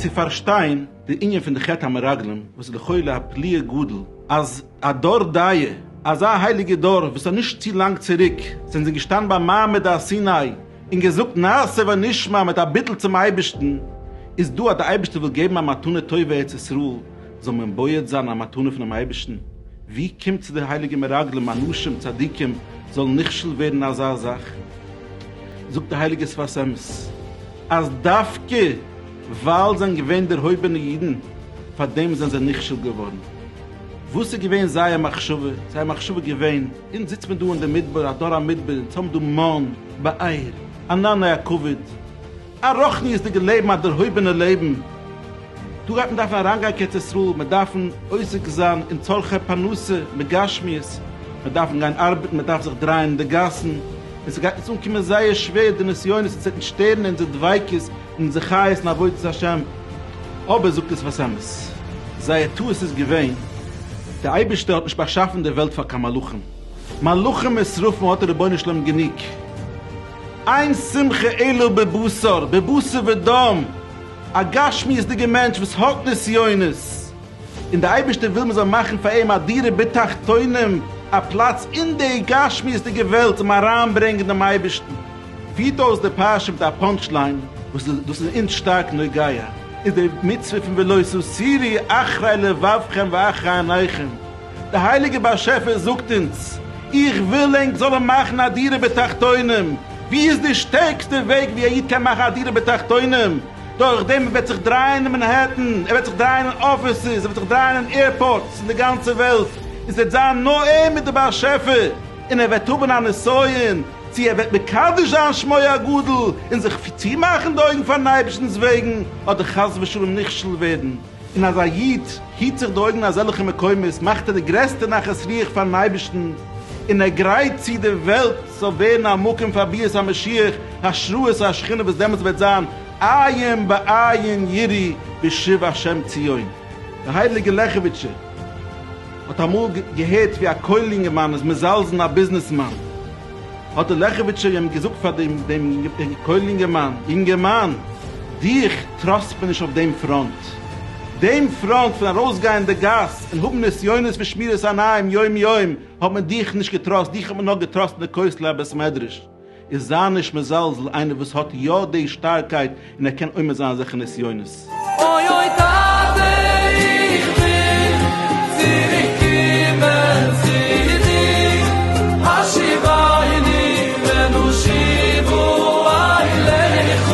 צו פארשטיין די ענין פון די חטא המרגלים וואס איז לכאורה א פליאה גדול אז א דור דאיה, אזא הייליגע דור וואס האט נישט צו לאנג צוריק זענען זיי געשטאנען ביים מעמד הר סיני און געזאגט נעשה ונשמע מיט א ביטול צום אייבערשטן איז דא אז די אייבערשטער וויל געבן א מתנה טובה ארץ ישראל זאל מען בועט זיין א מתנה פונעם אייבערשטן, ווי קומט צו די הייליגע מרגלים אנשים צדיקים זאלן נכשל ווערן אין אזא זאך? זאגט די הייליגע שפת אמת אז דווקא ווייל זיי זענען געווען דערהויבענע אידן פאר דעם זענען זיי נכשל געווארן. וואס איז געווען זייער מחשבה? זייער מחשבה איז געווען, אונז זיצט מען דא אין די מדבר, א דור המדבר, אונז האבן דא מן בעיר, ענני הכבוד, א רוחניות'דיגע לעבן, א דערהויבענע לעבן, דא גייט מען דארפן אריינגיין קיין ארץ ישראל, מיר דארפן עוסק זיין אין צרכי פרנסה מגשמיות, מיר דארפן גיין ארבעטן, מען דארף זיך דרייען אין די גאסן, און ס'גייט אונז אנקומען זייער שווער די נסיונות און ס'וועט שטערן אונזער דביקות און אונזער חיות אין עבודת השם, אבער זאגט עס וואס אמת, זייער טעות איז געווען, דער אייבערשטער האט נישט באשאפן די וועלט פאר קיין מלאכים, מלאכים ושרפים האט דער רבונו של עולם גענוג. איין שמחה אלא בבשר, בבשר ודם, א גשמיות'דיגע מענטש וואס האט נסיונות, און די אייבערשטער וויל מ'זאל מאכן פאר אים א דירה בתחתונים, א פלאץ אין די גשמיות'דיגע וועלט אים אריינברענגן דעם אייבערשטן. פירט אויס די פרשה מיט א פאנטש ליין, וואס דאס איז אונז שטארק נוגע, איז די מצוה פון ולא תסירי אחרי לבבכם ואחרי עיניכם, דער הייליגער באשעפער זאגט אונז, איך וויל ענק זאלן מאכן א דירה בתחתונים, ווי איז די שטערקסטע וועג ווי א איד קען מאכן א דירה בתחתונים? דורך דעם ער וועט זיך דרייען אין מאנהעטן, ער וועט זיך דרייען אין אפיסעס, ער וועט זיך דרייען אין עירפארטס אין די גאנצע וועלט, און ס'וועט זיין נאר ער מיט די באשעפער, און ער וועט האבן א נסיון צו ער וועט מקדש זיין שמו הגדול און זיך צומאכן די אויגן פארן אייבערשטנ'ס וועגן, אדער חס ושלום נכשל ווערן. און אז א איד היט זיך די אויגן אין אזעלכע מקומות מאכט ער די גרעסטע נחת רוח פאר'ן אייבערשטן, און ער גרייט צו די וועלט זאל ווערן א מקום פאר ביאת המשיח, השראת השכינה וואס דעמאלטס וועט זיין עיין בעיין יראי בשוב השם ציון. די הייליגע לעכעוויטשער האט אמאל געהערט ווי א כולל יונגערמאן איז מזלזל'ן א ביזנעסמאן, האט די לעכעוויטשער אים געזאגט פאר דעם כולל יונגערמאן, יונגערמאן, דיך, טראסט מיר נישט אויף דעם פראנט. דעם פראנט פון ארויסגיין אין די גאס און האבן נסיונות פון שמירת עיניים יום יום האט מען דיך נישט געטראסט, דיך האט מען נאר געטראסט אין די כותלי הבית מדרש. און זיי נישט מזלזל איינער וואס האט יא די שטארקייט און ער קען עומד זיין אזעלכע נסיונות. אוי אוי טאטע איך וויל צוריק קומען צו דיר השיבני ונושיבו אליך.